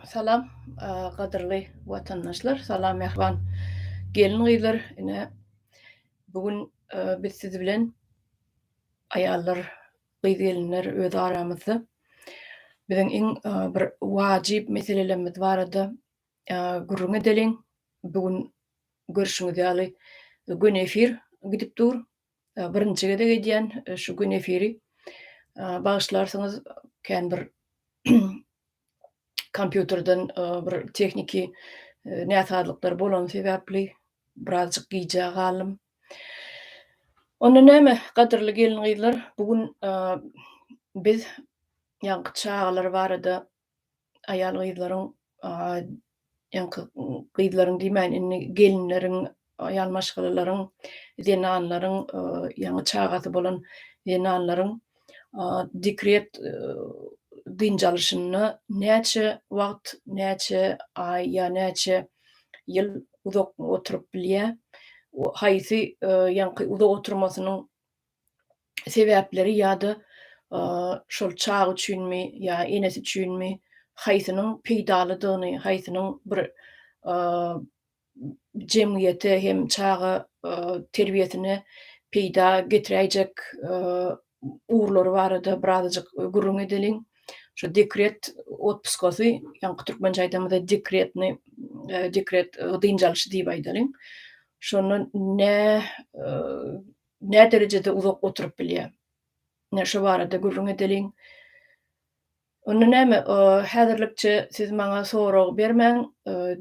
Salam, gadyrly watandaşlar, salam mähriban gelin-gyzlar. Ine, bu gün biz siz bilen aýallar, gyz-gelinler öz aramyzda biziň iň bir wajyp meselelerimiz barada Gürrüň edeliň. Bu gün görşüňiz ýaly gün efir gidip dur. Birinji gezek edýän şu gün efiri. Bagyşlarsyňyz kän bir kompýuterden bir tehniki näsazlyklar bolany sebäpli birazjyk gijä galdym. Onda näme gadyrly gelin-gyzlar bu gün biz ýaňky çagalar barada aýal-gyzlaryň, ýaňky gyzlaryň diýmäýin, indi gelinleriň, aýal maşgalalaryň, zenanlaryň, ýaňy çagasy bolan zenanlaryň dekret dynç alyşyna näçe wagt, näçe aý ýa näçe ýyl uzak oturyp bilýär? Haýsy ýaňky uzak oturmasynyň sebäpleri ýa-da şol çaga üçinmi ýa enesi üçinmi haýsynyň peýdalydygyny, haýsynyň bir jemgyýete hem çaga terbiýesine peýda getiräýjek ugurlary barada birazajyk gürrüň edeliň. Şu dekret otpusgasy, ýaňky türkmençe aýdamyzda dekretni, dekret dynç alşy diýip aýdalyň. Şonda nä nä derejede uzak oturyp bilýär? Ine, şu barada gürrüň edeliň. Onda näme, häzirlikçe siz maňa sorag bermäň,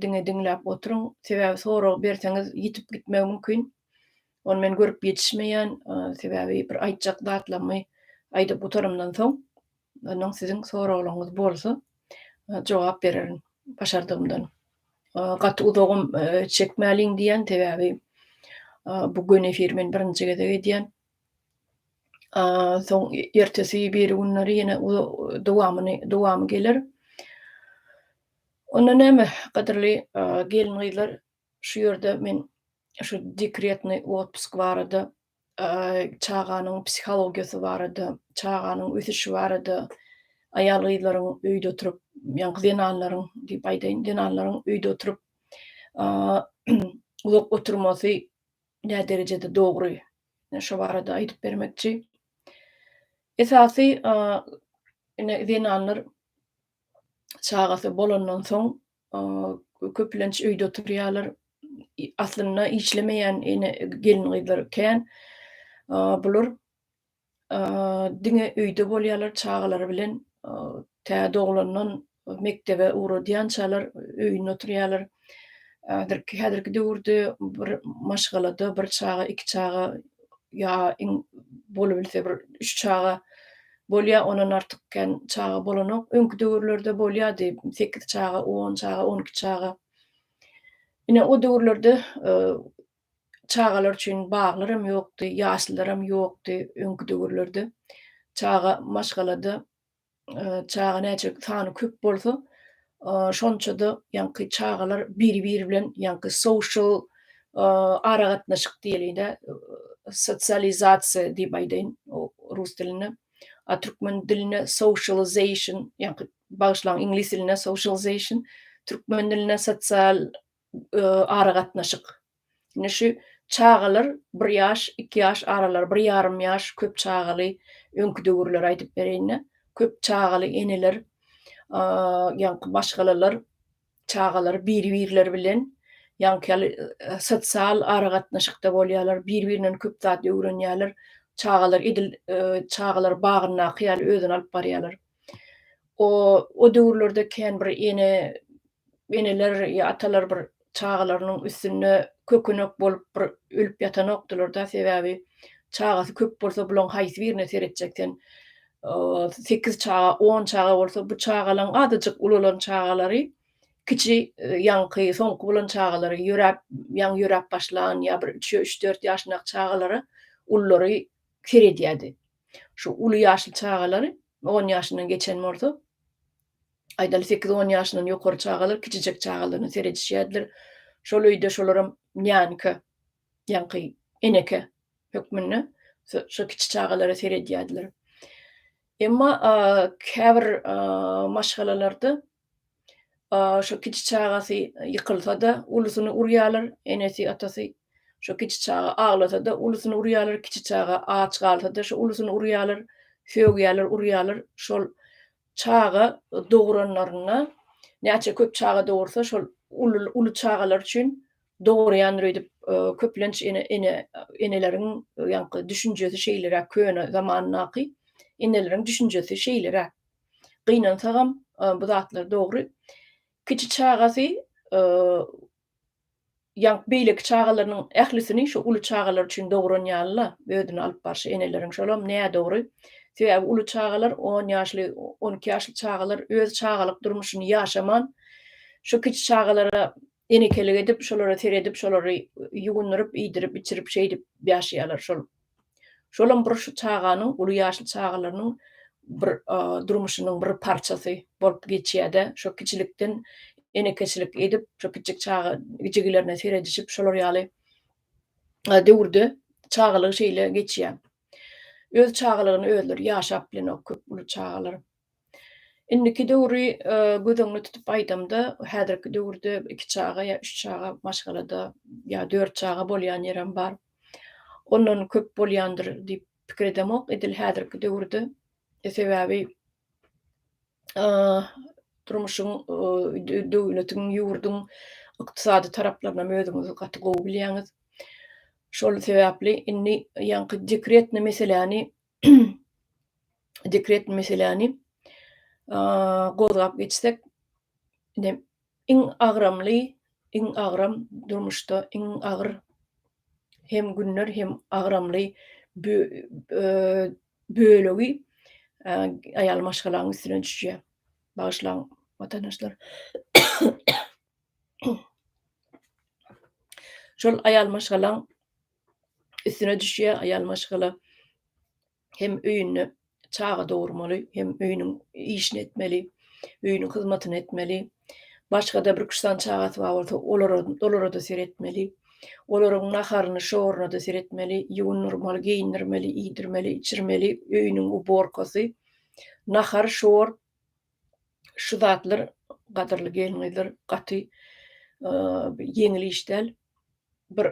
diňe diňläp oturyň. Sebäbi sorag berseňiz ýitip gitmegi mümkin. Ony men görüp ýetişmeýän, sebäbi bir aýtjak zatlarymy aýdyp gutarymdan soň, Ondan siziň soraglaryňyz bolsa jogap bererin başardygymdan. Gaty uzagam çekmäliň diýen sebäbi bu gün efir men birinji gezek edýän. Soň ertesi bir günleri ýene dowamyny dowamy geler. Onda näme gadyrly gelin gyzlar şu ýerde men şu dekretny otpusk barada çaganyň psihologiýasy barada, çaganyň ösüşi barada, aýal-gyzlaryň öýde oturyp, ýaňky zenanlaryň diýip aýdaýyn, zenanlaryň öýde oturyp uzak oturmasy nä derejede dogry? Ine şo barada aýdyp bermekçi. Esasy ine zenanlar çagasy bolandan soň köplenç öýde oturýarlar. Aslynda işlemeýän ene gelin-gyzlar kän. Bular diňe öýde bolýarlar çagalary bilen. Tä doglandan mekdebe ugradýançalar öýünde oturýarlar. Häzirki döwürde bir maşgalada bir çaga, iki çaga ýa iň bolubilse bir üç çaga Bolýa ondan artyk kän çaga bolanok. Öňki döwürlerde bolýady sekiz çaga, on çaga, on iki çaga. Ine o döwürlerde çagalar üçin baglaram ýokdy, ýaşlylaram ýokdy öňki döwürlerde. Çaga maşgalada çaga näçe sany köp bolsa Şonça-da ýaňky çagalar biri-biri bilen ýaňky social aragatnaşyk diýelide, sosializasiýa diýip aýdaýyn rus dilinde, a türkmen dilinde socialization, ýaňky bagyşlaň iňlis dilinde socialization, türkmen dilinde sosial aragatnaşyk. Indi şu çagalar bir ýaş, iki ýaş aralary, bir ýarym ýaş köp çagaly öňki döwürleri aýdyp bereýin-de, köp çagaly eneler, ýaňky maşgalalar çagalary bir-birleri bilen ýaňky ýaly sosial aragatnaşykda bolýarlar, bir-birinden köp zat öwrenýärler. Çagalar edil çagalar bagyndaky ýaly özüni alyp barýarlar. O döwürlerde kän bir ene eneler ýa atalar bir çagalarynyň üstünde kökenek bolup bir ölüp ýatanokdylar-da, sebäbi çagasy köp bolsa bulaň haýsy birine seretjek sen, sekiz çaga, on çaga bolsa bu çagalaň azajyk ulalan çagalary kiçi ýaňky soňky bolan çagalary ýöräp ýaňy ýöräp başlan ýa bir üç üç dört ýaşyndaky çagalara ullary seredýärdi. Şu uly ýaşly çagalary on ýaşyndan geçen bolsa Aýdaly, sekiz-on ýaşyndan ýokary çagalar kiçijek çagalaryna seredişýärdiler. Şol öýde şolaram nýanka, ýaňky eneke hökmünde şo kiçi çagalara seredýärdiler. Emma käbir maşgalalarda şo kiçi çagasy ýykylsa-da, ulusyny urýarlar, enesi, atasy şo kiçi çaga aglasa-da, ulusyny urýarlar, kiçi çaga aç galsa-da, şo ulusyny urýarlar, sögýärler, urýarlar. Şol Çaga dogranlarynda näçe köp çaga dogursa şol uly çagalar üçin dogurýandyr öýdüp köplenç ene ene eneleriň ýaňky düşünjesi şeýleräk köne zamandaky eneleriň düşünjesi şeýleräk gynansagam bu zatlar dogry kiçi çagasy Ýa beýleki çagalarynyň ählisini şu uly çagalar üçin dogran ýaly-la özüni alyp barşy eneleriň şolam nädogry. Sebäbi uly çagalar on ýaşly, on iki ýaşly çagalar öz çagalyk durmuşyny ýaşaman, şu kiçi çagalara enekelik edip, şolara seredip, şolary ýuwundyryp, iýdirip, içirip, şeýdip ýaşaýarlar. Şol Şolam bir şu çaganyň, uly ýaşly çagalarynyň bir durmuşynyň bir parçasy bolup geçýär-de, şo kiçilikden enekeçilik edip, şo kiçijik çaga jigilerine seredişip, şolar ýaly döwürde çagalygy şeýle geçýär. Öz çagalygyny özleri ýaşap bilenok köp uly çagalar. Indiki döwri göz öňüne tutup aýdamda, häzirki döwürde iki çaga ýa üç çaga maşgalada ýa dört çaga bolýan ýerem bar. Ondan köp bolýandyr diýip pikir edemok edil häzirki döwürde. Sebäbi durmuşyň döwletiň, ýurduň ykdysady taraplarynam özüňiz gaty gowy bilýäňiz. Şol sebäpli indi ýaňky dekretni meseläni dekret meseläni gozgap geçsek, ine iň agramly, iň agram durmuşda iň agyr hem günler hem agramly bölegi aýal maşgalaň üstüne düşýär. Bagyşlaň watandaşlar. Şol aýal maşgalaň üstüne düşýär aýal maşgala hem öýünde çaga dogurmaly hem öýüniň işini etmeli öýüniň hyzmatyny etmeli başgada bir küşsan çagasy bar bolsa olara olara da seretmeli olaryň naharyny şoruny da seretmeli ýuwundyrmaly geýindirmeli iýdirmeli içirmeli öýüniň uborkasy nahar şor Şu zatlar gadyrly gelniňizler gaty ýeňil iş däl. Bir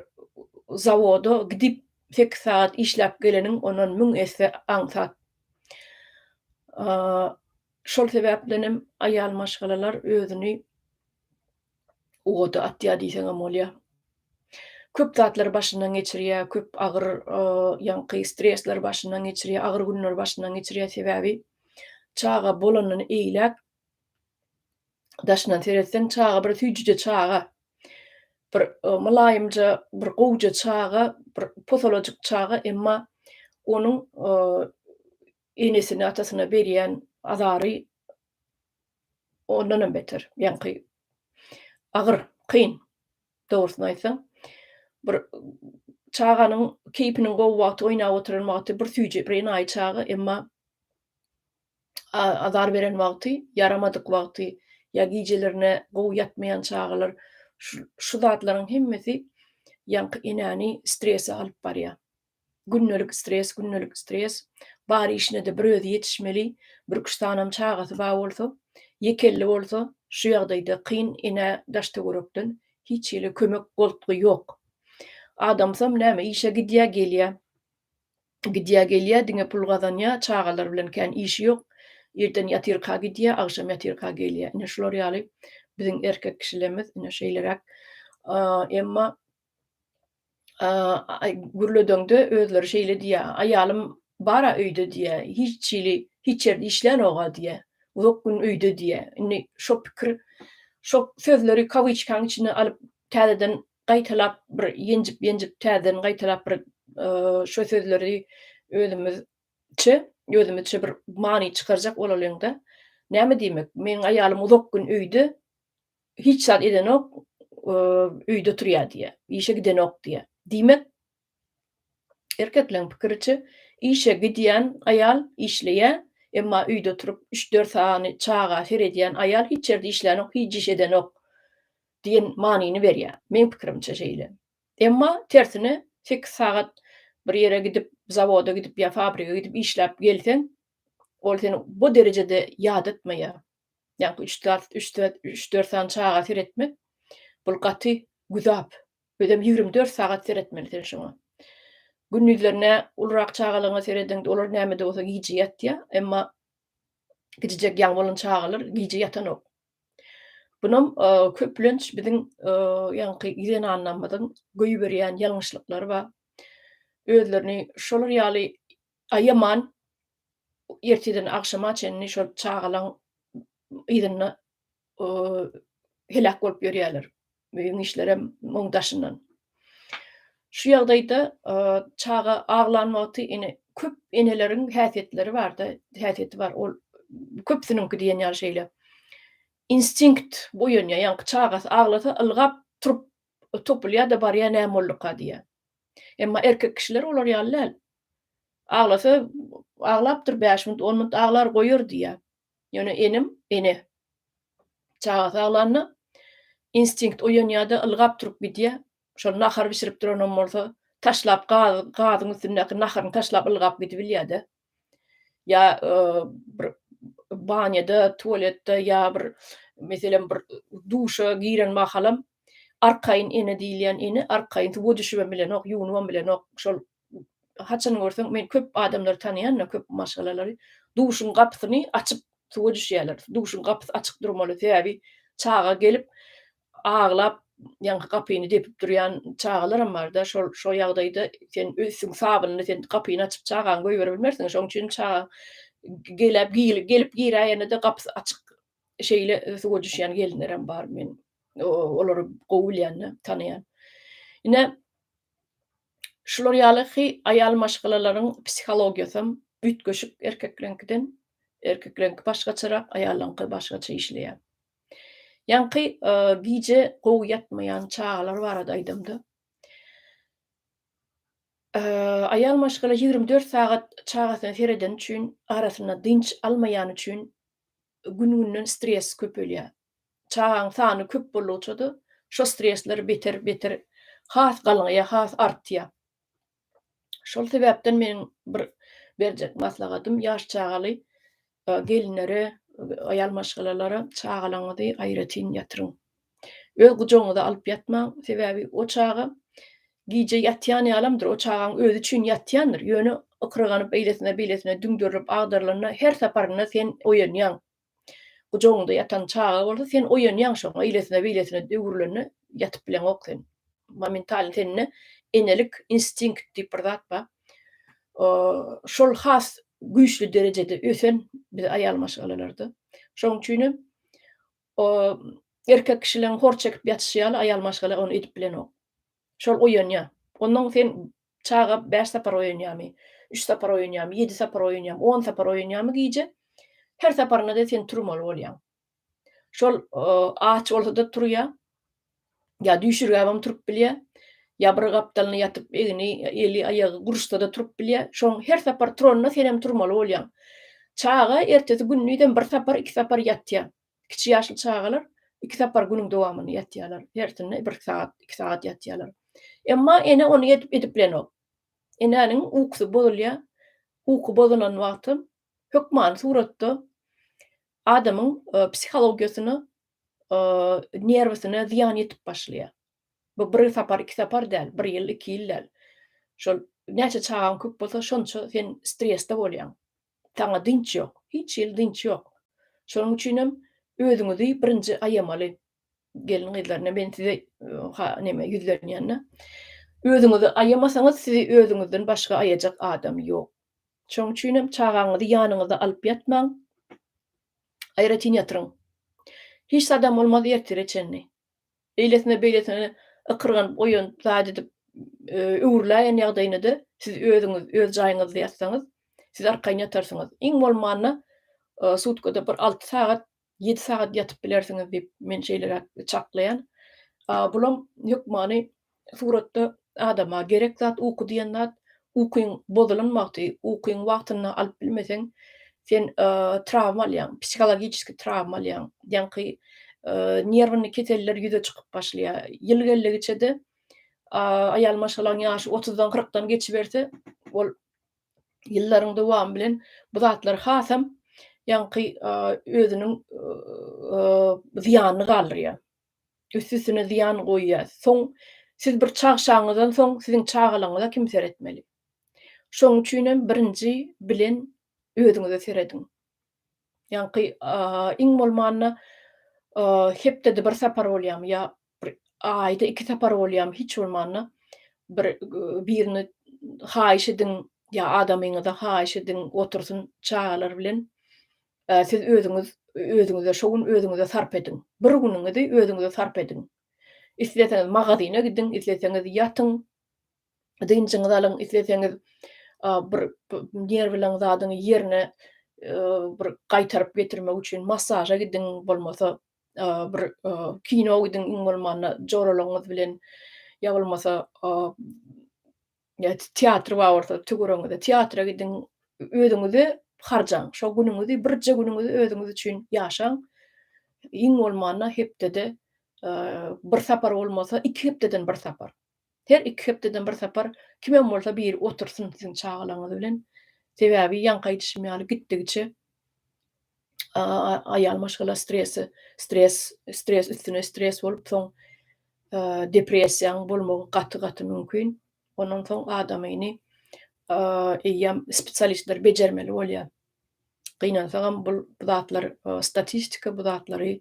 zawoda gidip sekiz sagat işläp geleniň ondan müň esse aňsat. Şol sebäpdenem aýal maşgalalar özüni ugada atýar diýseňem bolýar. Köp zatlary başyndan geçirýär, köp agyr ýaňky stresleri başyndan geçirýär, agyr günleri başyndan geçirýär, sebäbi çaga bolandan eýläk daşyndan seretseň çaga bir süýjüje çaga, bir mylaýymja, bir gowja çaga, bir posalajyk çaga, emma onuň enesine, atasyna berýän azary ondanam beter, ýaňky agyr, kyn. Dogrusyny aýtsaň, bir çaganyň keýpiniň gowy wagty, oýnap oturan wagty bir süýji, bir enaýy çaga, emma azar beren wagty, ýaramadyk wagty ýa gijelerine gowy ýatmaýan çagalar, şu zatlaryň hemmesi ýaňky enäni strese alyp barýar. Gündelik stres, gündelik stres. Bar işine-de bir özi ýetişmeli. Bir üç sanam çagasy bar bolsa, ýekelli bolsa, şu ýagdaýda kyn enä daş-töwerekden hiç hili kömek, goltgy ýok. Adamsam näme, işe gidýär, gelýär. Gidýär, gelýär, diňe pul gazanýar, çagalar bilen kän işi ýok. Irden ýatyrka gidýär, agşam ýatyrka gelýär. Ine şular ýaly biziň erkek kişilerimiz ine şeýleräk. Emma gürledeňde özleri şeýle diýýär, Aýalym bar-a öýde diýýär, hiç hili, hiç ýerde işlänok-a diýýär, uzak gün öýde diýýär. Indi şo pikir, şo sözleri kawiçkaň içine alyp, täzeden gaýtalap, bir ýenjip-ýenjip, täzeden gaýtalap bir şo sözleri özümizçe, özümizçe bir many çykarjak bolalyň-da, näme diýmek, meniň aýalym uzak gün öýde, Hiç zat edenok, öýde oturýar diýýär. Işe gidenok diýýär. Diýmek, erkekleň pikiriçe, işe gidýän aýal işleýär, emma öýde oturyp, üç-dört sany çaga seredýän aýal hiç ýerde işlänok, hiç iş edenok diýen manyny berýär. Meň pikirimçe şeýle. Emma tersine, sekiz sagat bir ýere gidip, zawoda gidip ýa fabrige gidip işläp gelseň, ol seni bu derejede ýadatmaýar. Ýa-da üç dart, üç dört, üç dört sany çaga seretmek, bul gaty güzap. Özem ýigrimi dört sagat seretmeli sen şoňa. Gündizlerine ulurak çagalaryňa serediň, olar näme-de bolsa gije ýatýar, emma gijijek ýaňy bolan çagalar gije ýatanok. Bunam köplenç biziň ýaňky zenanlarymyzyň goýberýän ýalňyşlyklary bar. Özlerini şolar ýaly aýaman, erteden agşama çenli şol çagalaň yzynda heläk bolup ýörýärler. Öýüň işlerem muň daşyndan. Şu ýagdaýda çaga aglan wagty ine köp eneleriň häsiýetleri barda, häsiýeti bar. Ol köpsüniňki diýen ýaly şeýle. Instinkt oýanýar. Ýaňky çagasy aglasa ylgap turup O topulýa-da barýa näme bolduka diýýä. Emma erkek kişiler olar ýaly däl. Aglasa aglapdyr bäş minut, on minut aglar goýar diýýä. Ýöne enem, ene. Çagasy aglanda instinkt oýanýa-da ylgap turup gidýä. Şol nahar bişirip duranam bolsa taşlap gazyň üstündäki naharyny taşlap ylgap gidibilýä-de. ýa bir banýada, tualetde ýa bir meselem bir duşa giren mahalam arkaýyn ene diýilýän ene arkaýyn suwa düşübem bilenok, ýuwunybam bilenok. Şol haçan görseň men köp adamlary tanaýan-da, köp maşgalalary duşuň gapysyny açyp suwa düşýärler. Duşuň gapysy açyk durmaly, sebäbi çaga gelip aglap ýaňky gapyny depip durýan çagalaram barda şol şo ýagdaýda sen öz üstüň sabynyny sen gapyny açyp çagaňy goýberebilmersiň şoň üçin çaga gelip gelip giräýenede gapysy açyk şeýle suwa düşýän gelinlerem bar men olary gowy bilýän tanaýan ine şular ýaly hy aýal maşgalalaryň psihologiýasam üýtgeşik erkekleňkiden erkekleňki başgaçarak aýallaňky başgaça işleýär. Ýaňky gije gowy ýatmaýan çagalar barada aýdamda, aýal maşgala ýigrimi dört sagat çagasyna seredeni üçin, arasynda dynç almaýany üçin gün-günden stres köpelýär. Çagaň sany köp boldugyça-da, şo stresler beter-beter has galňaýar, has artýar. Şol sebäpden meniň bir berjek maslahatym ýaş çagaly gelinlere, aýal maşgalalara çagalaňyzy aýratyn ýatyryň. Öz gujagyňyza alyp ýatmaň, sebäbi o çaga gije ýatýan ýalamdyr, o çagaň özi üçin ýatýandyr, ýöne ykryganyp eýlesine-beýlesine düňderilip agdarylanda her saparynda sen oýanýaň, Gujagyňda ýatan çaga bolsa sen oýanýaň şoňa eýlesine beýlesine öwrülende ýatyp bileňok sen. Momentalny sende enelik instinkt diýip bir zat bar. Şol has güýçli derejede ösen biz aýal maşgalalarda. Şoň üçin hem erkek kişileriň hor çekip ýatyşy ýaly aýal maşgala ony edip bilenok. Şol oýanýa. Onnoň sen çaga bäş sapar oýanýamy, üç sapar oýanýamy, ýedi sapar oýanýamy, on sapar oýanýamy gije, her saparynda-da sen turmaly bolýaň. Şol aç bolsa-da turýa, ýa düýşürgäbem turup bilýä, ýa bir gapdalyna ýatyp, egni, eli, aýagy guruşsa-da turup bilýä. Şoň her sapar turanda senem turmaly bolýaň. Çaga ertesi gündizem bir sapar, iki sapar ýatýa. Kiçi ýaşly çagalar iki sapar günüň dowamynda ýatýarlar. Hersinde bir sagat, iki sagat ýatýarlar. Emma ene ony edip edip bilenok. Enäniň ukusy bozulýar. Uky bozulan wagty hökmany suratda adamyň psihologiýasyna, nerwusyna zyýan ýetip başlaýar. Bu bir sapar, iki sapar däl, bir ýyl, iki ýyl däl. Şol näçe çagaň köp bolsa, şonça sen stresde bolýaň. Saňa dynç ýok. Hiç hili dynç ýok. Şonuň üçinem özüňizi birinji aýamaly. Gelin-gyzlaryna men size ha neme ýüzlenýän-de. Özüňizi aýamasaňyz, sizi özüňizden başga aýajak adam ýok. Şonuň üçinem çagaňyzy ýanyňyzda alyp ýatmaň. Aýratyn ýatyryň. Hiç zadam bolmaz ertire çenli. beýlesine-beýlesine ykyrganyp goýan zat edip öwrüläýen ýagdaýyna-da siz özüňiz öz jaýyňyzda ýatsaňyz, siz arkaýyn ýatarsyňyz. Iň bolmanda sutkada bir alty sagat, ýedi sagat ýatyp bilersiňiz diýip, men şeýleräk çaklaýan. Bulam hökmany Suratda adama gerek zat uky diýen zat, ukyň bozulan wagty, ukyňy wagtynda alyp bilmeseň, sen trawma alýaň, psihologiçeskiý trawma alýaň, ýaňky nerwny keseller ýüze çykyp başlaýar. Ýyl geldigiçe-de aýal maşgalaň ýaşy otuzdan, kyrkdan geçiberse, ol ýyllaryň dowamy bilen bu zatlar hasam ýaňky özüniň zyýanyny galdyrýar. Üstüsine zyýan goýýar. Soň siz bir çagşaňyzdan soň siziň çagalaryňyza kim seretmeli? Şoň üçinem birinji bilen özüňize serediň. Ýaňky iň bolmanda hepdede bir sapar bolýamy ýa bir aýda iki sapar bolýamy hiç bolmanda bir birini haýyş ediň ýa adamyňyza haýyş ediň otursyn çagalar bilen Siz özüňiz özüňize şu gün özüňize sarp ediň. Bir günüňizi özüňize sarp ediň. Isleseňiz magazyna gidiň, isleseňiz ýatyň, dynjyňyzy alyň, isleseňiz bir nerwleň zadyň ýerine bir gaýtaryp getirmek üçin massaža gidiň, bolmasa bir kino gidiň, iň bolmanda joralaryňyz bilen ýa bolmasa Teatr bar bolsa tüwrüňize teatra gidiň, özüňizi harjaň. Şo günüňizi, birje günüňizi özüňiz üçin ýaşaň. Iň bolmanda hepdede bir sapar bolmasa, iki hepdeden bir sapar. Her iki hepdeden bir sapar kimem bolsa biri otursyn siziň çagalaryňyz bilen. Sebäbi ýaňky aýdyşym ýaly gitdigiçe aýal maşgala stresi, stres, stres üstüne stres bolup soň depressiýaň bolmagy gaty-gaty mümkin. Ondan soň adamyny eýýäm spesialistler bejermeli bolýar. Gynansagam bu zatlar statistika, bu zatlary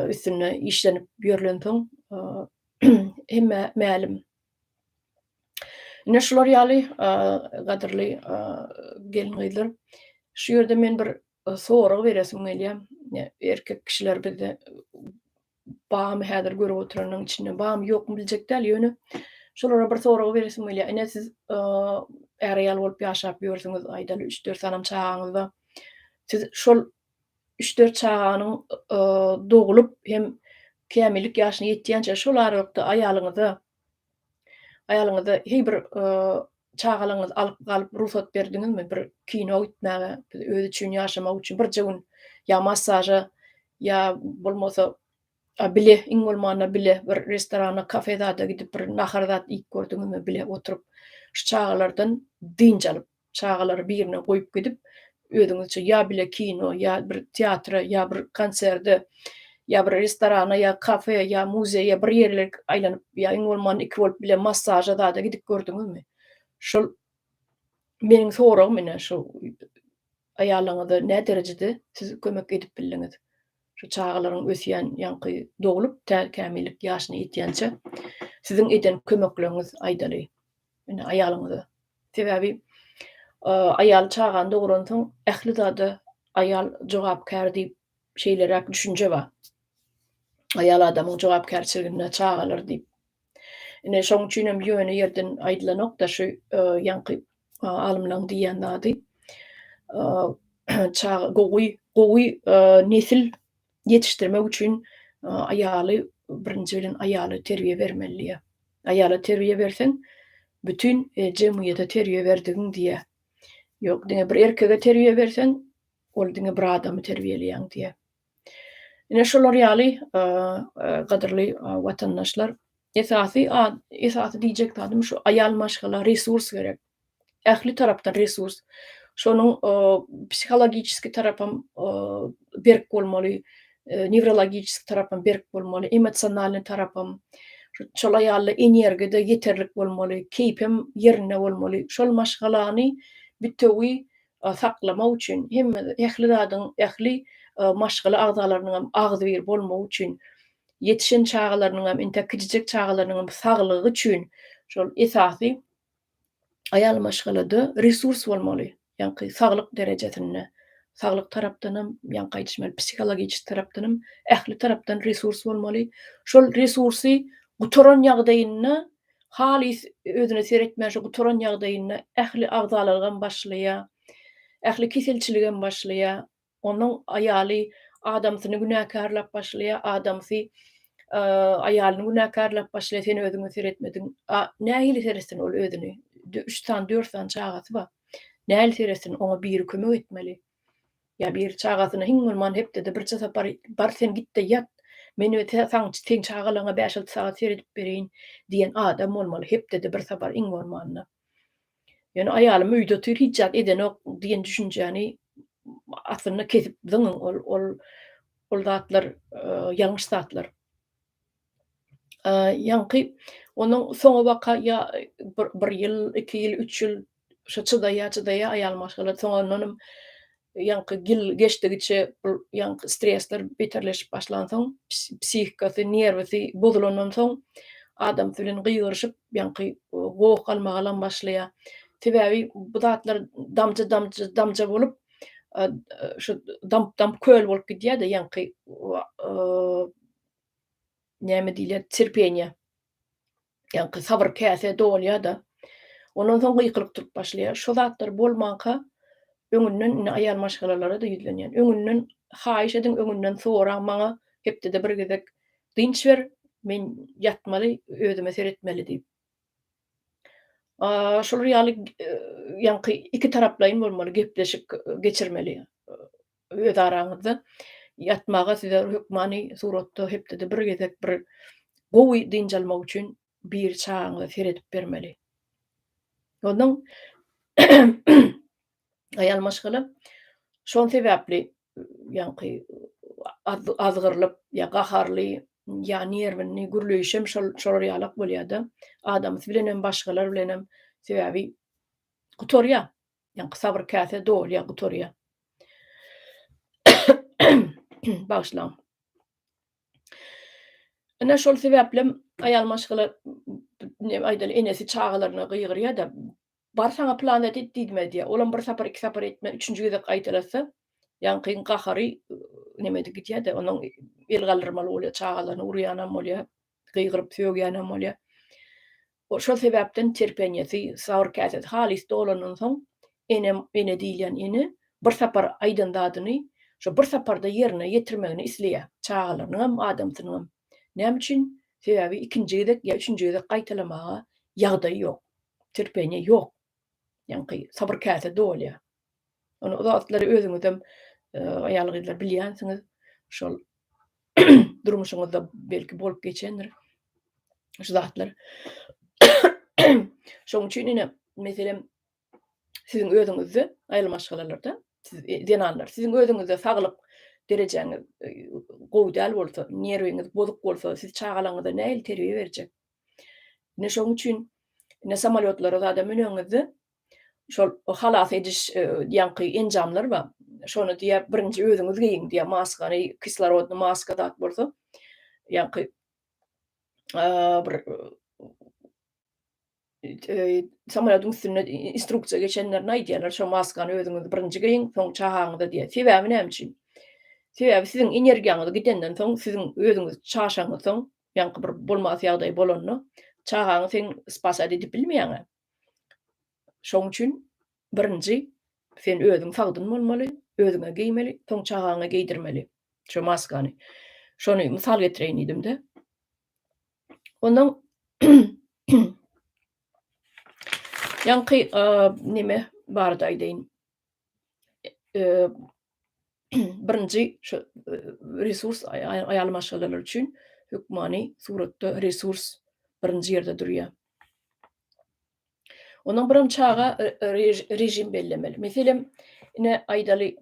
üstünde işlenip ýörlensoň hemmä mälim Ine şular ýaly gadyrly gelin-gyzlar. Şu ýerde men bir sorag beresim gelýär. Erkek kişiler bizde bamy häzir görüp oturanyň içinde bamy ýokmy biljek däl ýöne şolara bir sorag beresim gelýär. Ine siz är-aýal bolup ýaşap ýörsüňiz aýdaly üç-dört sanam çagaňyz bar. Siz şol üç-dört çaganyň doglup hem kämillik ýaşyna ýetýänçä şol aralykda aýalyňyza aýalyňyza heý bir çagalaryňyzy alyp galyp rugsat berdiňizmi bir kino gitmäge özi üçin ýaşamak üçin birje gün ýa massaža ýa bolmasa bile iň bolmanda bile bir restorana kafe zada gidip bir nahar zat iýip gördüňizmi bile oturyp şu çagalardan dynç alyp Çagalary birine goýup gidip, özüňizçe ýa bile kino, ýa bir teatra, ýa bir konserde, ýa bir restorana, ýa kafe, ýa muzeýe bir ýerler aýlanyp, ýa iň bolmanda iki bolup bile massaža zada gidip gördüňizmi? Şol meniň soragym ine şu aýalyňyza näderejede siz kömek edip bildiňiz? Şu çagalaryň ösýän ýaňky doglup tä kämillik ýaşyna ýetýänçä siziň eden kömekleriňiz aýdaly. Ine aýalyňyza. Sebäbi aýal çagany doguransoň ähli zada aýal jogapkär diýip şeýleräk düşünje bar. Aýal adamyň jogapkärçiliginde çagalar diýip. Ine şoň üçin hem ýöne ýerden aýdylanokda şu ýaňky alymlaň diýýän zady. Çaga gowy gowy nesil ýetişdirmek üçin aýaly birinji bilen aýala terbiýe bermeli diýýär. Aýala terbiýe berseň, bütin e, jemgyýete terbiýe berdigiň diýýär. Ýok, diňe bir erkege terbiýe berseň, ol diňe bir adamy terbiýeleýäň diýýär. Ine şolar ýaly e, e, gadyrly watandaşlar, esasy esasy diýjek zadym şu aýal maşgala resurs gerek. ähli tarapdan resurs. Şonuň psihologiçeski tarapam berk bolmaly, newrologiçeski tarapam berk bolmaly, emosionalnyý tarapam, şolaý ýaly-da energiýa-da ýeterlik bolmaly, keýpem ýerinde bolmaly. Şol maşgalany bitewi saklamak üçin, hemme, ähli zadyň, ähli maşgala agzalarynyňam agzybir bolmagy üçin, ýetişen çagalarynyňam, entek kiçijek çagalarynyňam saglygy üçin şol esasy Aýal maşgalada resurs bolmaly. Ýaňky saglyk derejesinde, saglyk tarapdanam, ýaňky aýdyşym ýaly psihologiçeski tarapdanam, ähli tarapdan resurs bolmaly. Şol resursy gutaran ýagdaýynda halys özüne seretmän şu gutaran ýagdaýynda ähli agzalarygy hem başlaýar. Ähli keselçiligi hem başlaýar. Onuň aýaly adamsyny günäkärläp başlaýar, adamsy aýalyny günäkärläp başlaýar, sen özüňe seretmediň. A nähili seretsin ol özüni? Üç sany, dört sany çagasy bar. Nähili seretsin? Oňa biri kömek etmeli. Ýa biri çagasyna hiň bolman hepdede birje sapar bar sen gitde ýat, men seň çagalaryňa bäş-alty sagat seredip bereýin diýen adam bolmaly, hepdede bir sapar iň bolmanda. Ýöne aýalym öýde otyr, hiç zat edenok diýen düşünjäni aslynda kesip zyňyň, ol ol ol zatlar ýalňyş zatlar. Ýaňky onuň soňy waka ýa bir ýyl, iki ýyl, üç ýyl şo çydaýa-çydaýa aýal maşgala soňandanam Ýaňky ýyl geçdigiçe bu ýaňky stresler beterleşip başlansoň, psihikasy, nerwisy bozulandan soň adamsy bilen gygyryşyp, ýaňky goh galmagalam başlaýar. Sebäbi bu zatlar damja damja damja bolup, şu damp damp köl bolup gidýär-de ýaňky näme diýilýär, terpeniýe. Ýaňky sabyr käse dolýar-da, ondan soň gykylyk turup başlaýar. Şo zatlar bolmanka, öňünden indi aýal maşgalalara-da ýüzlenýän. Öňünden haýyş ediň, öňünden soraň, maňa hepdede bir gezek dynç ber, men ýatmaly, özüme seretmeli diýip. Şular ýaly ýaňky ikitaraplaýyn bolmaly, gepleşik geçirmeli. öz araňyzda ýatmaga size hökmany suratda hepdede bir gezek bir gowy dynç almak üçin bir çagaňyza seredip bermeli. Ondan aýal maşgala şol sebäpli ýaňky azgyrylyp ýa gaharly ýa nerwini gürleýşem şol şolar ýalak bolýada. Adamsy bilenem başgalar bilenem sebäbi gutarýa. Ýaňky sabyr käse dolýar, gutarýar. Bagyşlaň. Ine şol sebäplem aýal maşgala ne aýdaly enesi çagalaryna gygyrýar-da, bar saňa planet et diýdime diýýär. Olam bir sapar, iki sapar etmän, üçünji gezek gaýtalatsa, ýaňkyň gahary nemedi gidýär-de, onuň el galdyrmaly bolýar, çagalaryny urýanam bolýar. gygyryp sögýänem bolýar. O şol sebäpden terpenýesi, sabyr käsesi halys dolandan soň, enem, ene diýilýän ene bir sapar aýdan zadyny şo bir saparda ýerine ýetirmegini isleýär. Çagalarynyňam, adamsynyňam. Näme üçin? Sebäbi ikinji gezek ýa üçünji gezek gaýtalamaga ýagdaý ýok. Terpenýe ýok. Ýaňky sabyr käse dolýar. Ony uzatlary özüňizem aýal-gyzlar bilýänsiňiz. Şol durmuşyňyzda belki bolup geçendir şu zatlar. Şoň üçin ine, meselem, siziň özüňizde aýal maşgalalarda siz e, zenanlar, siziň özüňizde saglyk derejäňiz e, gowy däl bolsa, nerwiňiz bozuk bolsa, siz çagalaryňyza nähili terbiýe berjek? Ine şoň üçin ine samolyotlara zada müneniňizde şol halas ediş ýaňky enjamlar bar. Şony diýä birinji özüňiz geýiň diýä maskany, kislorodny maska zat bolsa. Ýaňky bir samolýodyň üstünde instruksiýa geçenlerine aýdýarlar, şo maskany özüňiz birinji geýiň, soň çagaňyza diýä. Sebäbi näme üçin? Sebäbi siziň energiýaňyz gidenden soň, siziň özüňiz çaşaňyz soň, ýaňky bir bolmasy ýagdaý bolanda, çagaňy sen spasat edip bilmeýäň-ä. Şoň üçin birinji sen özüň sagdyn bolmaly, özüňe geýmeli, soň çagaňa geýdirmeli şo maskany. Şony mysal getireýin diýdim-de. Ondan ýaňky neme barada aýdaýyn. birinji şu resurs aýal maşgalalar üçin hökmany suratda resurs birinji ýerde durýar. Onuň birim çaga režim bellemeli. Meselem, ine aýdaly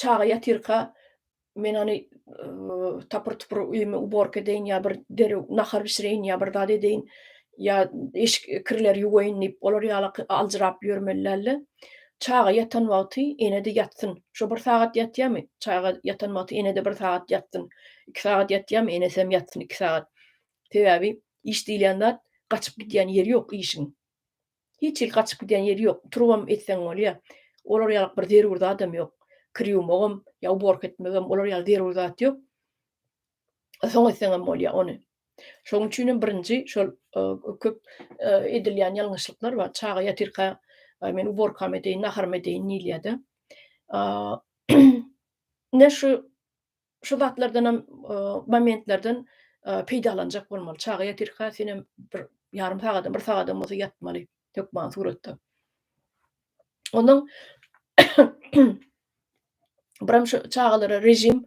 Çaga ýatyrka men ony tapyr-tupur öýümi uborka edeýin ýa bir derew nahar bişireýin ýa bir zat edeýin, ýa eşik kirleri ýuwaýyn diýip, olar ýala aljyrap ýörmeli däldi. Çaga ýatan wagty ene-de ýatsyn. Şo bir sagat ýatýamy, çaga ýatan wagty ene-de bir sagat ýatsyn. Iki sagat ýatýamy, enesem ýatsyn iki sagat. Sebäbi iş diýilýän zat gaçyp gidýän ýeri ýok işiň. Hiç hili gaçyp gidýän ýeri ýok. Turubam etseň bolýar. Olar ýaly bir zerur zadam ýok. Kir ýuwmagam, ýa uborka etmegem, olar ýaly zerur zat ýok. Soň etseňem bolýar ony. Şonuň üçin hem birinji şol köp edilýän ýalňyşlyklar bar. Çaga ýatyrka men uborkamy edeýin, naharymy edeýin diýilýär-de. Ine şu şu zatlardanam momentlerden peýdalanjak bolmaly. Çaga ýatirka senem bir ýarym sagadam, bir sagadam bolsa ýatmaly hökman suratda. Onuň biram şu çagalara rejim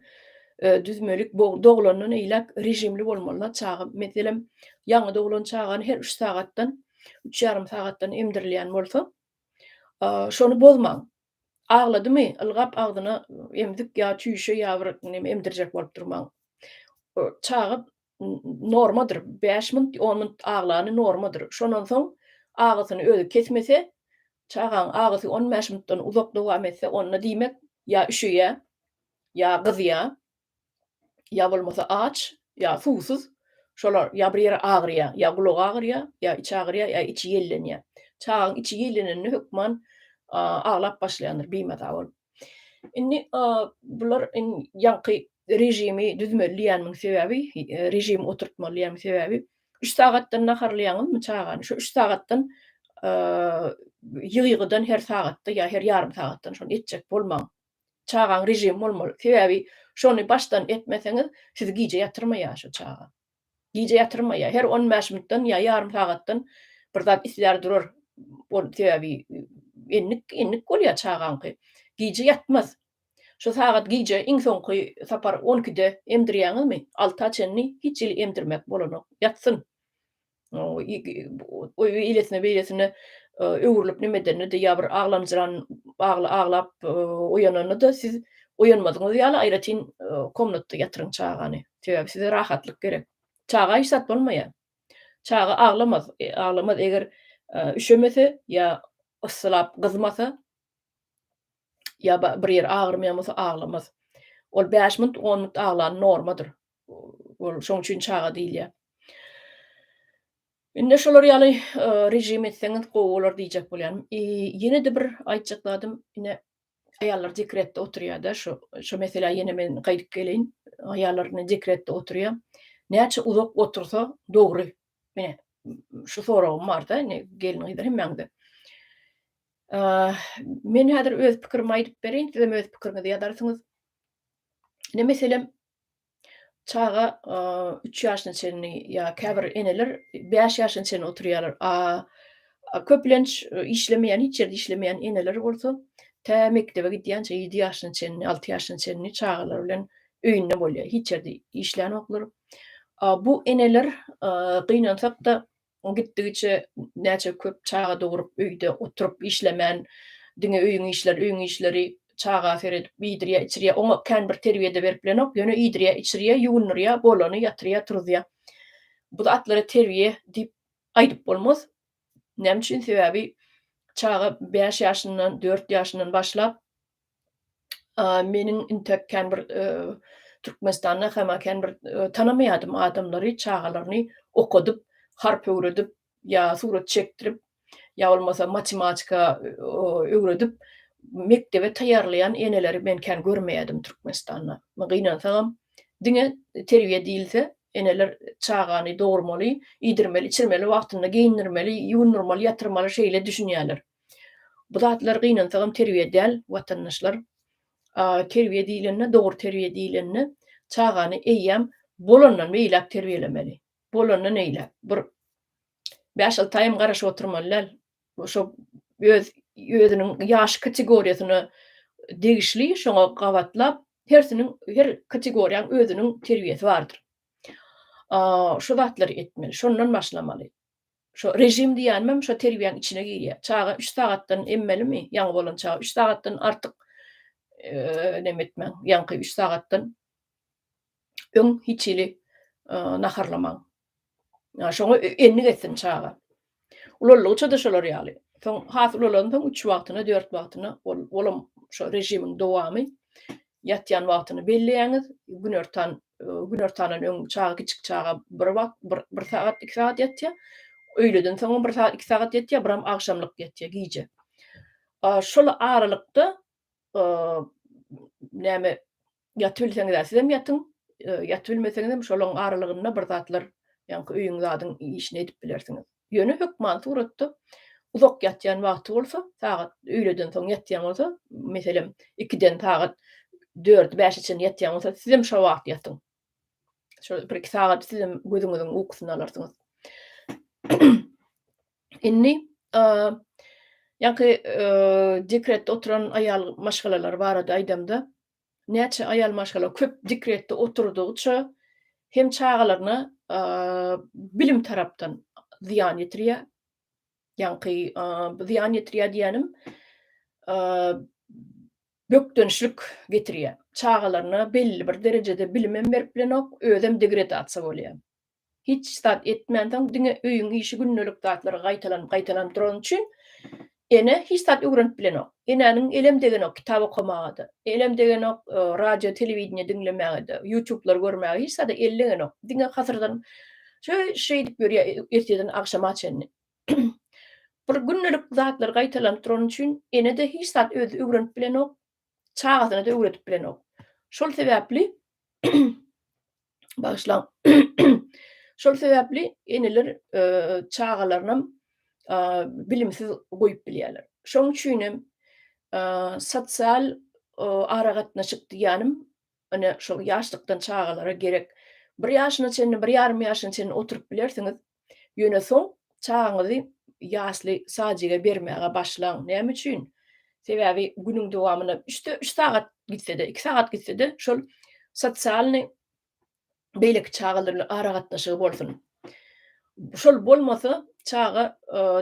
düzmelik doglandan eýläk rejimli bolmalylar çaga. Meselem, ýaňy doglan çagany her 3 sagatdan, 3 ýarym sagatdan emdirilýän bolsa, şony bozmaň. Agladymy, ylgap agzyna emzik ýa çüýşe ýa bir neme emdirjek bolup durmaň. Çaga normadyr, bäş minut, on minut aglany normadyr. Şondan soň agysyny özi kesmese, çagaň agysy on bäş minutdan uzak dowam etse, onda diýmek ýa üşeýä, ýa gyzýa. ýa bolmasa aç, ýa suwsuz, şolar ýa bir ýeri agyrýar, ýa gulagy agyrýar, ýa içi agyrýar, ýa içi ýellenýär. Çagaň içi ýellenende hökman aglap başlaýandyr bimaza bolup. Indi bular ýaňky režimi düzmeli diýýäniň sebäbi, režim oturtmaly diýýäniň sebäbi, üç sagatdan naharlaýaňyzmy çagany, şo üç sagatdan ýygy-ýygydan her sagatda ýa her ýarym sagatdan şony etjek bolmaň. Çagaň režimi bolmaly. Sebäbi şony başdan etmeseňiz, sizi gije ýatyrmaýar şu çaga. Gije ýatyrmaýar. Her on bäş minutdan ýa ýarym sagatdan bir zat islär durar. Ol sebäbi endik, endik bolýar çagaňky. Gije ýatmaz. Şu sagat gije iň soňky sapar on ikide emdirýäňizmi, alta çenli hiç hili emdirmek bolanok. Ýatsyn. Eýlesine-beýlesine öwrülip neme edenini-de ýa bir aglamjyran aglap oýananyny-da siz oýanmadygyňyz ýaly aýratyn komnatda ýatyryň çagany. Sebäbi size rahatlyk gerek. Çaga hiç zat bolmaýar. Çaga aglamaz. Aglamaz eger üşemese ýa yssylap gyzmasa ýa bir ýeri agyrmaýan bolsa aglamaz. Ol bäş minut, on minut aglan normadyr. Ol şoň üçin çaga diýilýär. Indi şolar ýaly režim etseňiz gowy bolar diýjek bolýan. Ýene-de bir aýtjak zadym, ine aýallar dekretde oturýar-da, şu şu meselä ýene men gaýdyp geleýin. Aýallar indi dekretde oturýar. Näçe uzak otursa dogry. Mine şu soragym bar-da, ine gelin gyzlar hemmäňize. Men häzir öz pikirimi aýdyp bereýin, siz hem öz pikiriňizi ýazarsyňyz. Ine meselem, Çaga üç ýaşyna çenli ýa käbir eneler bäş ýaşyna çenli oturýarlar. A köplenç işlemeýän, hiç ýerde işlemeýän eneler bolsa tä mekdebe gidýänçä ýedi ýaşyna çenli, alty ýaşyna çenli çagalar bilen öýünde bolýar. Hiç ýerde işlänoklar. Bu eneler gynansak-da O gitdigiçe näçe köp çaga dogrup öýde oturyp işlemän diňe öýüň işleri öýüň işleri çaga seredip iýdirýä içirýä oňa kän bir terbiýede berip bilenok ýöne iýdirýä içirýä ýuwundyrýa bolany ýatyrýa turuzýa bu atlara terbiýe diýip aýdyp bolmaz näme üçin sebäbi çaga bäş ýaşyndan dört ýaşyndan başlap meniň intek kän bir Türkmenistanda hemä kän bir tanamaýadym adamlary çagalaryny okadyp, harp öwredip ýa surat çekdirip ýa bolmasa matematika öwredip mekdebe taýýarlaýan eneleri men kän görmeýädim Türkmenistanda. Men gynansagam diňe terbiýe diýilse eneler çagany dogurmaly, iýdirmeli, içirmeli, wagtynda geýindirmeli, ýuwundyrmaly, ýatyrmaly şeýle düşünýärler. Bu zatlar gynansagam terbiýe däl watandaşlar. Terbiýe diýlende, dogry terbiýe diýlende çagany eýýäm bolandan beýläk terbiýelemeli. Bolandan eýläk. Bir bäş alty aýam garaşyp oturmaly däl. Şo öz özüniň ýaş kategoriýasyna degişli şoňa gabatlap hersiniň her kategoriýaň özüniň terbiýesi bardyr. Şu zatlary etmeli. Şondan başlamaly. Şo režim diýýänimem şo terbiýäň içine girýär. Çaga üç sagatdan emmelimi, ýaňy bolan çaga üç sagatdan artyk neme etmäň, ýaňky üç sagatdan öň hiç hili naharlamaň. Şoňa endik etsin çaga. Ulaldygyça-da şolar ýaly. Soň has ulalansoň üç wagtyna, dört wagtyna ol olam şo režimiň dowamy. Ýatýan wagtyny belleýäňiz, günortan Günortadan öň çaga kiçik çaga bir wagt bir bir sagat iki sagat ýatýa. Öýleden soňam bir sagat iki sagat ýatýa, biram agşamlyk ýatýa gije. A şol aralykda e, näme ýatyp bilseňiz-ä sizem ýatyň, e, ýatyp bilmeseňizem şolaň aralygynda bir zatlar ýaňky öýüň zadyň işini edip bilersiňiz. Ýöne hökman suratda uzak ýatýan wagty bolsa, sagat öýleden soň ýatýan bolsa, meselem, ikiden sagat dördi, bäşe çenli ýatýan bolsa, sizem şo wagt ýatyň. Şo bir-iki sagat sizem gözüňiziň ukusyny alarsyňyz. Indi ýaňky dekretde oturan aýal maşgalalar barada aýdamda, näçe aýal maşgala köp dekretde oturdygyça hem çagalaryna bilim tarapdan zyýan ýetirýär. Ýaňky zyýan ýetirýär diýýänim bökdençlik getirýär. Çagalaryna belli bir derejede bilim hem berip bilenok, özem degradasiýa bolýar. Hiç zat etmänsoň diňe öýüň işi gündelik zatlary gaýtalanyp gaýtalanyp durany üçin Ene hiç zat öwrenip bilenok. Enäniň elem degenok kitap okamagada. Elem degenok radio telewideniýe diňlemägede, ýutuplary görmäge hiç zada eli degenok. Diňe hasyrdan şeý şeýdip ýörýär ertirden agşama çenli. Bir gündelik zatlary gaýtalanyp durany üçin Enede hiç zat özi öwrenip bilenok. Çagasyna-da öwredip bilenok. Şol sebäpli Bagyşlaň. Şol sebäpli eneler e, çagalaryny e, bilimsiz goýup bilýärler. Şoň üçin hem e, sosial aragatnaşyk diýýänim, ine şol ýaşlykdan çagalara gerek. Bir ýaşyna çenli, bir ýarym ýaşyna çenli oturyp bilersiňiz, Ýöne soň çagaňyzy ýasly sadjige bermäge başlaň. Näme üçin? Sebäbi günüň dowamynda üçde üç sagat gitse-de, iki sagat gitse-de şol sosialnyý beýleki çagalar bilen aragatnaşygy bolsun. Şol bolmasa çaga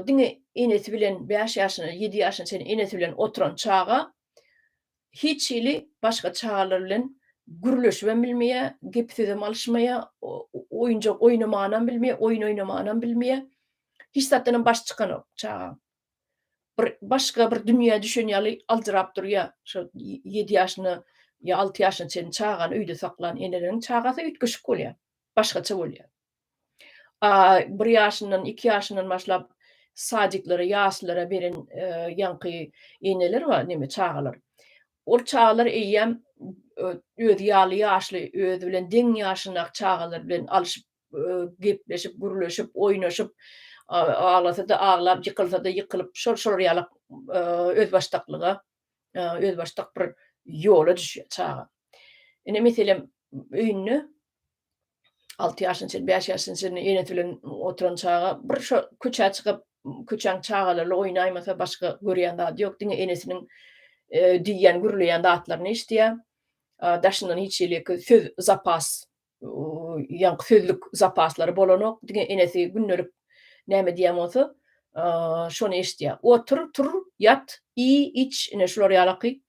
diňe enesi bilen bäş ýaşyna, ýedi ýaşyna çenli enesi bilen oturan çaga Hiç hili başga çagalar bilen gürleşibem bilmeýär, gep-sözem alyşmaýar, oýunjak oýnamanam bilmeýär, oýun oýnamanam bilmeýär. Hiç zatdanam başy çykanok çagaň. Bir başga bir dünýä düşen ýaly aljyrap durýar. Şo ýedi ýaşyna ýa alty ýaşyna çenli çagany öýde saklan eneleriň çagasy üýtgeşik bolýar, başgaça bolýar. bir ýaşyndan, iki ýaşyndan başlap sadiklere, ýaslylere beren ýaňky eneler bar, neme, çagalar. Ol çagalar eýýäm özi ýaly ýaşly, özi bilen deň ýaşyndaky çagalar bilen alşyp, gepleşip, gürleşip, oýnaşyp, aglasa-da aglap, ýykylsa-da ýykylyp, şol-şolar ýalak özbaşdaklyga özbaşdak bir ýola düşýär çaga. Ine, meselem, öýünde alty ýaşyna çenli, bäş ýaşyna çenli enesi bilen oturan çaga bir şo köçä çykyp, köçäň çagalary oýnaýmasa, başga görýän zady ýok, diňe enesiniň diýýän, gürleýän zatlaryny eşidýär. Daşyndan hiç hili söz zapas ýaňky sözlük zapaslary bolanok, diňe enesi gündelik näme diýen bolsa, şony eşitýär. Otur, tur, ýat, iý, iç, ine, şular ýalaky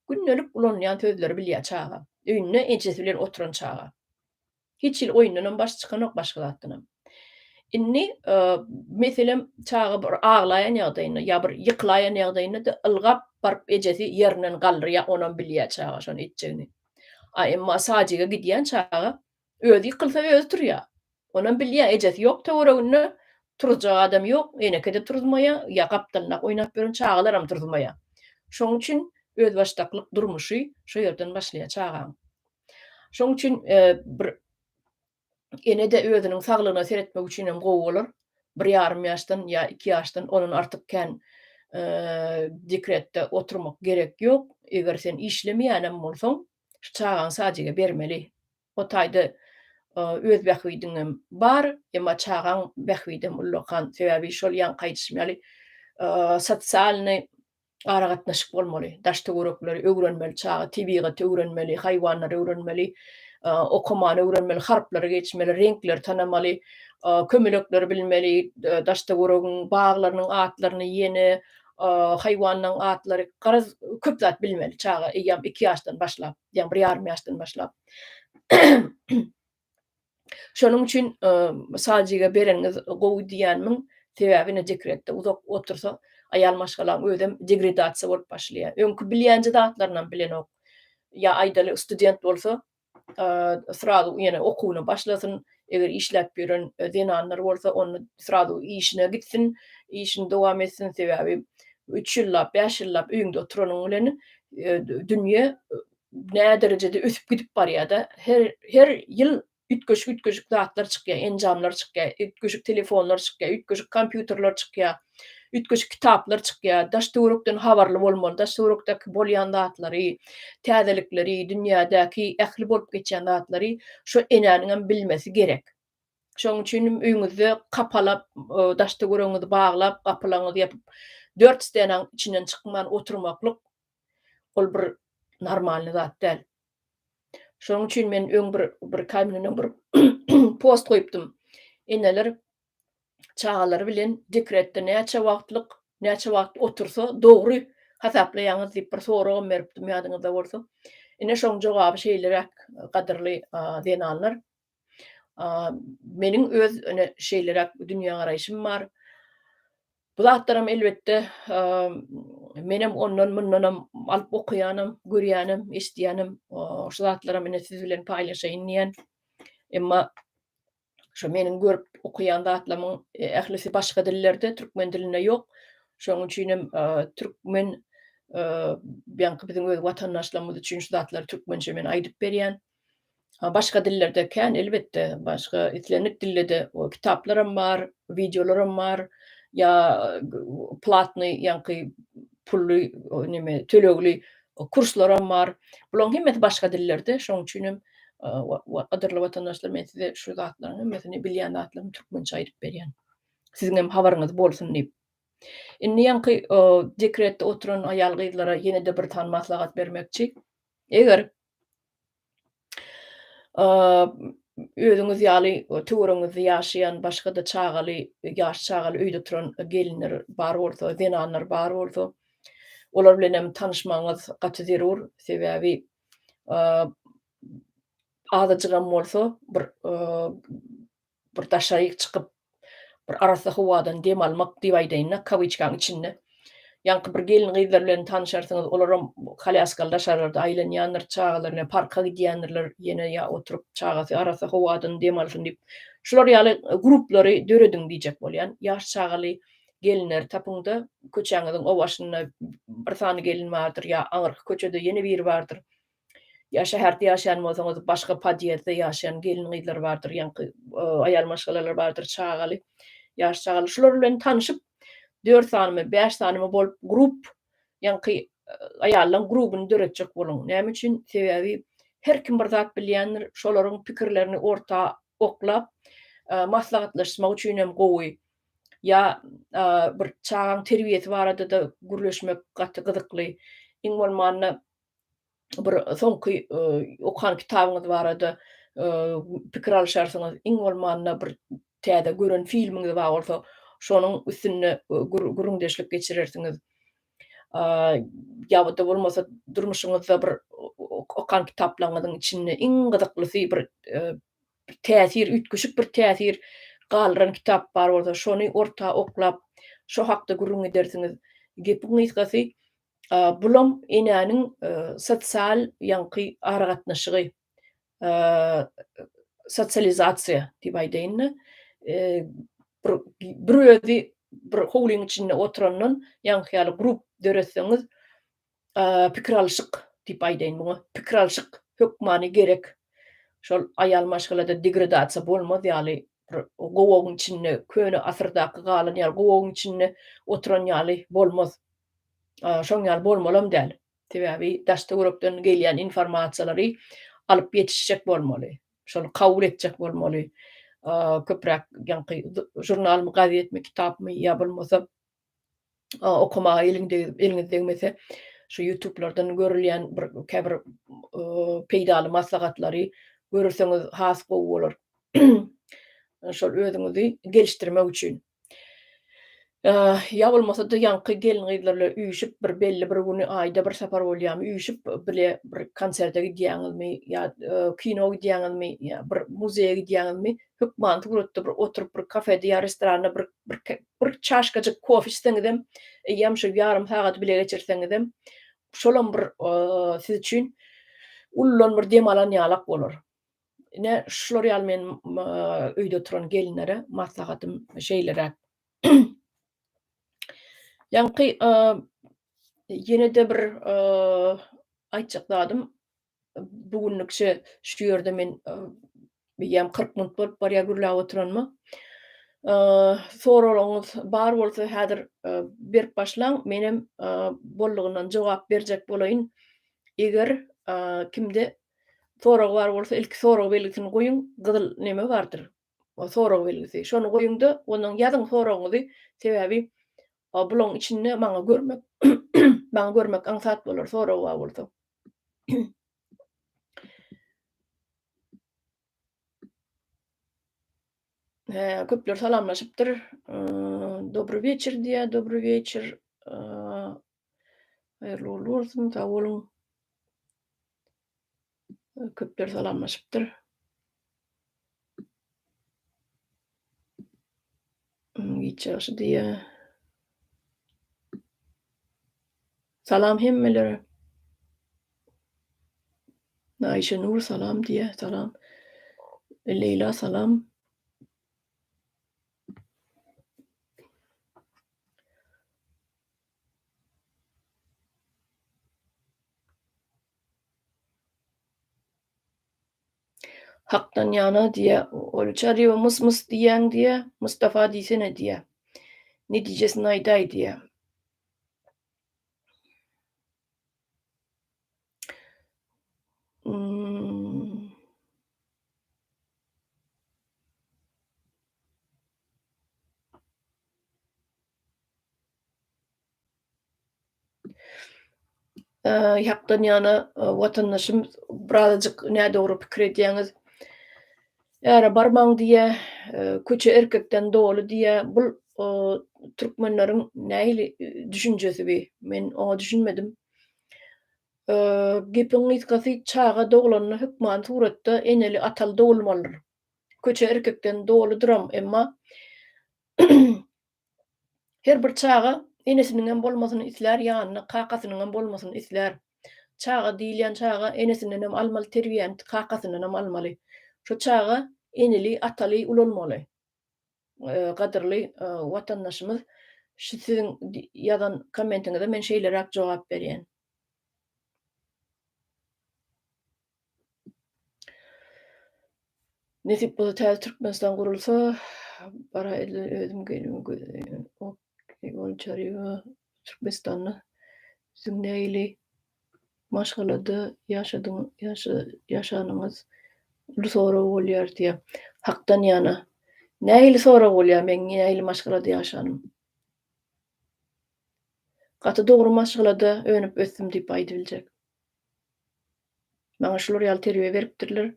gündelik ulanylýan sözleri bilýär çaga. Öýünde ejesi bilen oturan çaga. Hiç hili oýundanam başy çykanok, başga zatdanam. Indi, meselem, çaga bir aglaýan ýagdaýynda ýa bir ýykylaýan ýagdaýynda-da ylgap baryp ejesi ýerinden galdyrýar, onam bilýär çaga şony etjegini. A emma Sajige gidýän çaga özi ýykylsa özi turýar. Onam bilýär, ejesi ýok töwereginde, turuzjak adam ýok, eneke-de turuzmaýar, ýa gapdalyndaky oýnap ýören çagalaram turuzmaýar. Şonuň üçin özbaşdaklyk durmuşy şo ýerden başlaýar çagaň. Şonuň üçin bir Ene-de özüniň saglygyna seretmek üçinem gowy bolar. Bir ýarym ýaşdan ýa iki ýaşdan ondan artyk kän dekretde oturmak gerek ýok. Eger sen işlemeýänem bolsaň, çagaňy sadjige bermeli. O taýda öz bähbidiňem bar, emma çagaň bähbidem ullakan. Sebäbi şol ýaňky aýdyşym ýaly sosialnyý aragatnaşyk bolmaly. Daş-töwerekleri öwrenmeli, çaga tebigaty öwrenmeli, haýwanlary öwrenmeli, okamany öwrenmeli, harplary geçmeli, reňkleri tanamaly, kömelekleri bilmeli, daş-töweregiň baglarynyň atlaryny, ýene haýwanlaryň atlary, garaz, köp zat bilmeli çaga, eýýäm iki ýaşdan başlap, ýa bir ýarym ýaşdan başlap. Şonuň üçin Saljige bereniňiz gowy diýýänmiň, sebäbi ine dekretde uzak otursa, aýal maşgalaň özem degredasiýa bolup başlaýar. Öňki bilýänje zatlarynam bilenok. Ýa aýdaly student bolsa, srazu ýene okuwyna başlasyn, eger işläp ýören zenanlar bolsa, onda srazu işine gitsin, işini dowam etsin, sebäbi üç ýyllap, bäş ýyllap öýüňde oturanyň bilen dünýe näderejede ösüp gidip barýar-da. Her her ýyl üýtgeşik-üýtgeşik zatlar çykýar, enjamlar çykýar, üýtgeşik telefonlar çykýar, üýtgeşik kompýuterler çykýar, üýtgeşik kitaplar çykýar. Daş-töwerekden habarly bolmaly, daş-töwerekdäki bolýan zatlary, täzelikleri, dünýädäki ähli bolup geçýän zatlary şo enäniňem bilmesi gerek. Şonuň üçin hem öýüňizde kapalap, daş-töweregiňizi baglap, gapylaňyzy ýapyp, dört stanaň içinden çykman oturmaklyk Ol bir normalny zat däl. Şonuň üçin men öň bir bir kaýmyndan bir post goýupdym. Eneler çagalary bilen dekretde näçe wagtlyk, näçe wagt otursa dogry hasaplaýaňyz diýip bir soragam beripdim ýadyňyzda bolsa. Ine şoň jogaby şeýleräk gadyrly zenanlar. Meniň öz öne şeýleräk dünýägaraýşym bar. Bu zatlaram elbetde menem ondan mundanam alyp okaýanam, görýänim, eşidýänim şu zatlaram ine siz bilen paýlaşaýyn diýen. Emma şu meniň görüp okaýan zatlamyň ählisi başga dillerde, türkmen dilinde ýok. Şonuň üçin hem türkmen biziň öz watandaşlarymyz üçin şu zatlary türkmençe men aýdyp berýän. A başga dillerde kän elbetde, başga islendik dillede o kitaplaram bar, wideolaram bar, ýa platnyý ýaňky pully neme tölegli kurslaram bar. Bularyň hemmesi başga dillerde, şonuň üçin hem gadyrly watandaşlar men size şu zatlaryň hemmesini bilýän zatlarymy türkmençe aýdyp berýän. Siziň hem habaryňyz bolsun diýip. Indi ýaňky dekretde oturan aýal gyzlara ýene-de bir sany maslahat bermekçi. Eger özüňiz ýaly töweregiňizde ýaşaýan başga-da çagaly, ýaş çagaly öýde turan gelinler bar bolsa, zenanlar bar bolsa, olar bilen hem tanyşmagyňyz gaty zerur. Sebäbi azajygam bolsa bir Bir daşaryk çykyp, bir arassa howadan dem almak diýip aýdaýyn-da, kawiçkaň içinde. Ýaňky bir gelin-gyzlar bilen tanyşarsyňyz, olaram kolýaskaly daşarlarda aýlanýandyr, çagalary ne parka gidýändirler, ýene ýa oturyp çagasy arassa howadan dem alsyn diýip, şular ýaly gruplary dörediň diýjek bolýan. Ýaş çagaly gelinleri tapyň-da, köçäňiziň o başynda bir sany gelin bardyr ýa aňyrky köçede ýene biri bardyr. Ýa şäherde ýaşaýan bolsaňyz, başga podýezdde ýaşaýan gelin-gyzlar bardyr, ýaňky aýal-maşgalalar bardyr, çagaly, ýaş çagaly. Şular bilen tanşyp, dört sanymy, bäş sanymy bolup grup, ýaňky aýallaryň grubuny döretjek boluň. Näme üçin? Sebäbi her kim bir zat bilýändir, şolaryň pikirlerini orta oklap, maslahatlaşmak üçin hem gowy. Ýa bir çagaň terbiýesi barada-da gürleşmek gaty gyzykly. Iň bolmanda bir soňky okan kitabyňyz barada pikir alyşarsyňyz, iň bolmanda bir täze gören filmiňiz bar bolsa, şonuň üstünde gürrüňdeşlik geçirersiňiz. Ýa-da bolmasa durmuşyňyzda bir okan kitaplaryňyzyň içinde iň gyzyklysy bir täsir, üýtgeşik bir täsir galdyran kitap bar bolsa, şony orta oklap, şo hakda gürrüň edersiňiz. Gepiň gysgasy, Bulam enäniň sosial ýaňky aragatnaşygy, sosializasiýa diýip aýdaýyn-da. Bir bir özi bir howlyň içinde oturandan ýaňky ýaly grup döretseňiz, pikir alşyk diýip aýdaýyn muňa. Pikir alşyk hökmany gerek. Şol aýal maşgalada degradasiýa bolmaz ýaly, bir gowagyň içinde, köne asyrdaky galan ýaly gowagyň içinde oturan ýaly bolmaz. Şoň ýaly bolmalam däl. Sebäbi daş-töwerekden gelýän informasiýalary alyp ýetişjek bolmaly. Şony kabul etjek bolmaly. Köpräk ýaňky žurnalmy, gazetmi, kitapmy ýa bolmasa okamaga eliň degip, eliňiz degmese, şu ýutublardan görülýän bir käbir peýdaly maslahatlary görseňiz has gowy bolar. Şol özüňizi gelişdirmek üçin. Ýa bolmasa-da ýaňky gelin-gyzlar bilen üýşüp bir belli bir güni, aýda bir sapar bolýamy, üýşüp bile bir konserte gidýäňizmi ýa kino gidýäňizmi ýa bir muzeýe gidýäňizmi, hökmany suratda bir oturyp bir kafede ýa restoranda bir bir çaşkajyk kofe içseňizem, eýýäm şol ýarym sagady bile geçirseňizem, şolam bir siz üçin uludan bir dem alan ýalak bolar. Ine, şular ýaly men öýde oturan gelinlere maslahatym şeýleräk. Ýaňky ýene-de bir aýtjak zadym, bu günlük şu ýerde men eýýäm 40 minut bolup barýar gürläp oturanyma. Soraglaryňyz bar bolsa häzir berip başlaň, menem boldugyndan jogap berjek bolaýyn. Eger kimde Sorag bar bolsa ilki sorag belgisini goýuň gyzyl neme bardyr o sorag belgisi şony goýuňda ondan ýazyň soragyňyzy sebäbi o bulaň içinde maňa görmek maňa görmek aňsat bolar sorag bar bolsa. He, köpler salamlaşypdyr. Dobry weçer diýýär, dobry weçer. Haýyrly ugrly bolsun, sag boluň. Köpler salamlaşypdyr. Giç ýagşy diýýär. Salam hemmelere. Aýşenur salam diýýär, salam. Leýla salam. Hakdan ýana diýä ol Çaryba mys mys diýýäň diýä Mustafa diýsene diýä Netijesini aýdaý diýä. hakdan ýana watandaşym birazajyk nädogry pikir edýäňiz. Äre barmaň diýýä, köçe erkekden doly diýýä. Bu türkmenleriň nähili düşünjesi bi? Men oňa düşünmedim. Gepiň gysgasy çaga doglanda hökman suratda eneli ataly dogulmalydyr. Köçe erkekden doludyram emma Her bir çaga enesiniňem bolmasyny islär, ýanynda kakasynyňam bolmasyny islär. Çaga diýilýän çaga enesindenem almaly terbiýäni, kakasyndanam almaly. Şo çaga eneli, ataly ulalmaly. Gadyrly watandaşymyz, şu siziň ýazan kommentiňize men şeýleräk jogap berýän. Nesip bolsa täze Türkmenistan gurulsa, bara elden özüm gelin gözleýän. Ok, ol çaryga Türkmenistanda siziň nähili maşgalada ýaşadyň, ýaşa, ýaşanyňyz uly sorag bolýar diýýär. Hakdan ýana, nähili sorag bolýar meň nähili maşgalada ýaşanym? Gaty dogry maşgalada önüp-ösdüm diýip aýdybiljek. Maňa şular ýaly terbiýe beripdirler.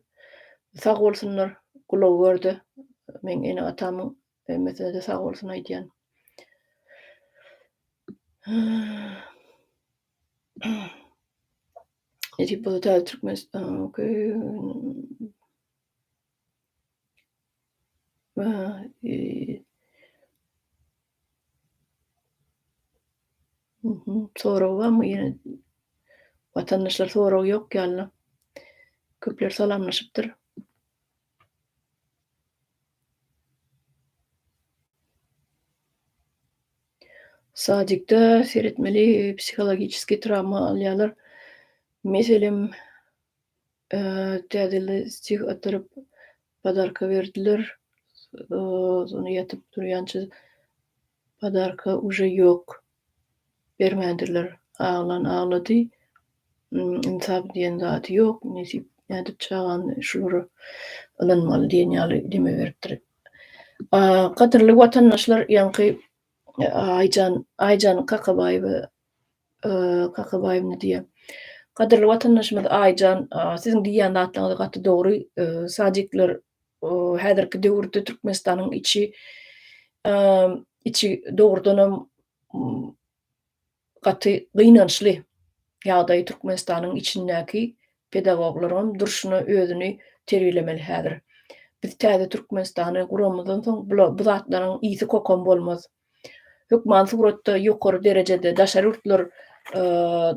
Sag bolsunlar, gulagy görde meň ene-atamyň hemmesine-de sag bolsun aýdýan. Nesip bolsa täze Türkmenistan. Sorag barmy ýene? Watandaşlar sorag ýok ýalyna. Köpler salamlaşypdyr. Sadikde seretmeli psihologiçeskiý trawma alýarlar. Meselem Täzeli stih atyryp podarka berdiler. Sony ýatyp turýança podarka uje ýok. Bermändirler. Aglan aglady. Ynsap diýen zady ýok. Nesip nädip çagany şulara ynanmaly diýen ýaly deme beripdir. Gadyrly watandaşlar ýaňky Aýjan Aýjan Kakabaýewa Kakabaýewna diýýär. Gadyrly watandaşymyz Aýjan, siziň diýýän zatlaryňyz gaty dogry. Sadikler häzirki döwürde Türkmenistanyň içi içi dogrudanam gaty gynançly ýagdaý Türkmenistanyň içindäki pedagoglaryňam durşuna özüni terbiýelemeli häzir. Biz täze Türkmenistany guramyzdan soň bu zatlaryň ýiti-kokumy bolmaz. hökman suratda ýokary derejede daşary ýurtlar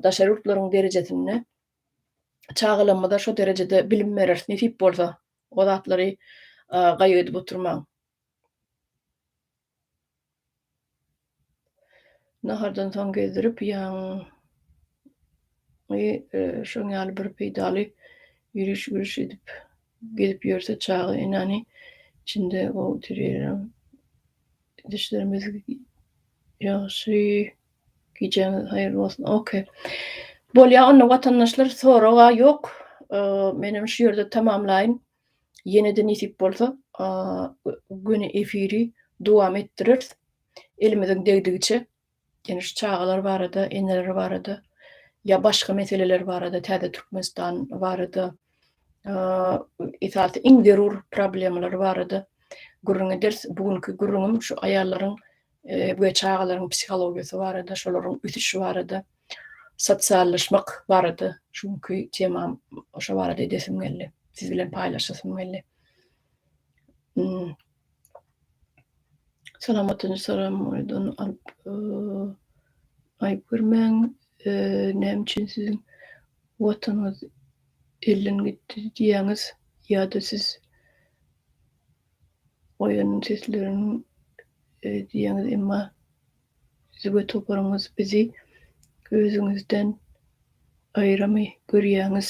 daşary ýurtlaryň derejesinde çagalarymyza şo derejede bilim bereris nesip bolsa o zatlary gaýgy edip oturmaň. Nahardan soň gezdirip ýaň şoň ýaly bir peýdaly ýüriş güriş edip gezip ýörse çaga enäni içinde o Düşlerimiz ýagşy. Gijäňiz haýyrly bolsun. Ok. Bolýa onda watandaşlar soraga ýok. Menem şu ýerde tamamlaýyn. Ýene-de nesip bolsa göni efiri dowam etdireris. Elimiziň degdigiçe Ýene şu çagalar barada, eneler barada ýa başga meseleler barada, täze Türkmenistan barada, esasy iň zerur problemalar barada gürrüň ederis. Bu günki gürrüňim şu aýallaryň we çagalaryň psihologiýasy barada, şolaryň ösüşi barada, sosiallaşmak barada şu günki temam şo barada edesim geldi. Siz bilen paýlaşasym geldi. Salamatyn salam oýdan alyp aýyp görmäň näme üçin siziň watanyňyz elden gitdi diýýäňiz ýa-da siz oýanyň seslerini diýýäňiz emma siz we toparyňyz bizi özüňizden aýramy görýäňiz.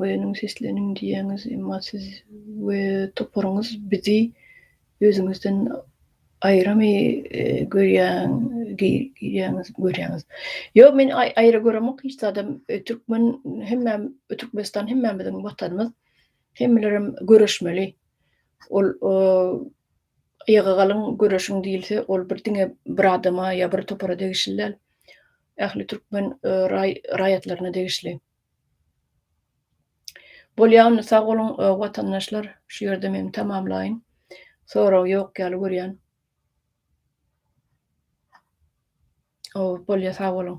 Oýanyň sesleniň diýýäňiz emma siz we toparyňyz bizi özüňizden aýramy görýäň girýäňiz görýäňiz. Ýok men aýra göremok hiç zadam türkmen hemme türkmenistan hemmämiziň watanymyz hemmelerem göreşmeli ol aýaga galyň göreşiň diýilse ol bir diňe bir adama ýa bir topara degişli däl ähli türkmen raýatlaryna degişli. Bolýa onda sag boluň watandaşlar şu ýerde men tamamlaýyn sorag ýok ýaly görýän. Ow bolýa sag boluň.